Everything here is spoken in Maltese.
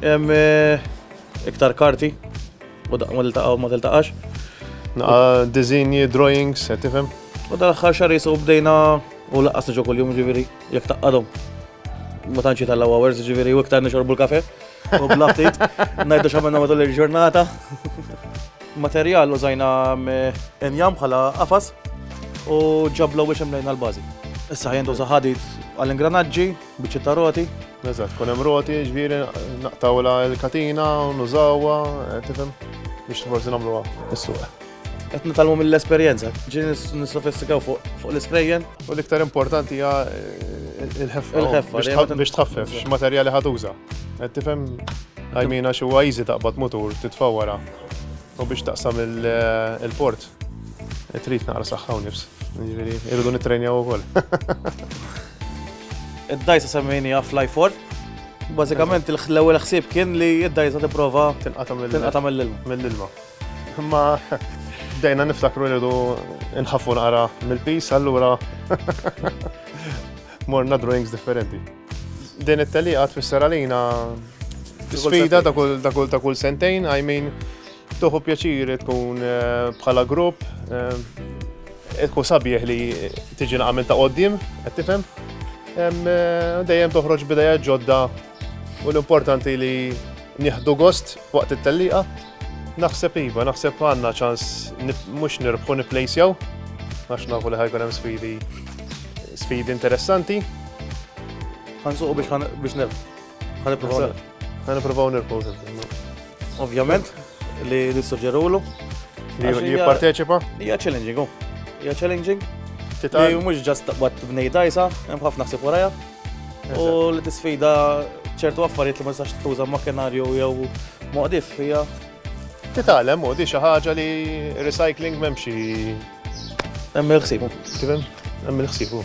Hemm eh, iktar karti u daqqa ma tiltaqa' u ma tiltaqax. Naqa dizinji, drawings, qed tifhem? U dal-aħħar xahar jisu bdejna u laqqas niġu kuljum ġifieri jekk taqqadhom. Ma tantx jitellgħu hours ġifieri u iktar nixorbu l-kafe. U bla ftit ngħidu x'għamilna matul il-ġurnata. Materjal użajna mm, injam bħala qafas u ġablu biex imlejna l-bażi. Issa ħajjendu ħadid għall-ingranaġġi, Biċċa ta' roti, eżatt, kun hemm roti, ġviri, naqtawla l-katina, nużawha, eh, tifhem, biex forsi nagħmluha is-suq. Qed nitalmu mill-esperjenza, ġieli nissofistikaw fuq l-isprejjen. U l-iktar importanti hija eh, il-ħeffa. Il-ħeffa. Biex tħaffef, x'materjali ħatuża. Qed tifhem għajmina xi huwa easy taqbad mutur titfa' wara. U biex taqsam il-port, trid naqra saħħa u nifs. Jiġifieri, irridu nittrejnjaw ukoll. Id-dajsa semmejni għaf lajfor. Bażikament l-ewwel ħsieb kien li id-dajsa tipprova tinqata' mill-ilma. Mill-ilma. Imma bdejna niftakru rridu nħaffu naqra mill-pis, allura morna drawings differenti. Din it-teliqa tfisser għalina sfida ta' kull ta' kull ta' kull sentejn, I mean, toħu pjaċir tkun eh, bħala grupp, eh, tkun sabieħ li tiġi naqamil ta' qoddim, qed tifhem? Eh, dejjem toħroġ bidejja ġodda u l-importanti li nieħdu gost waqt it-telliqa Naħseb iva, naħseb għandna ċans mhux nirbħu nipplejsjaw, għax nafu li ħajkun hemm sfidi sfidi interessanti. Għansuqu biex biex nirb. Għaniprofaw nirb. Ovvjament, li nissuġġerulu. Li jipparteċipa? Hija challenging, oh. hija challenging. Li mhux ġast waqt bnejda jisa, hemm ħafna ħsib warajja. U li tisfida ċertu affarijiet li ma tistax tuża makinarju jew moqdif hija. Titgħallem u di xi ħaġa li recycling m'hemm xi. Hemm il-ħsibu. Kif hemm? Hemm il-ħsibu.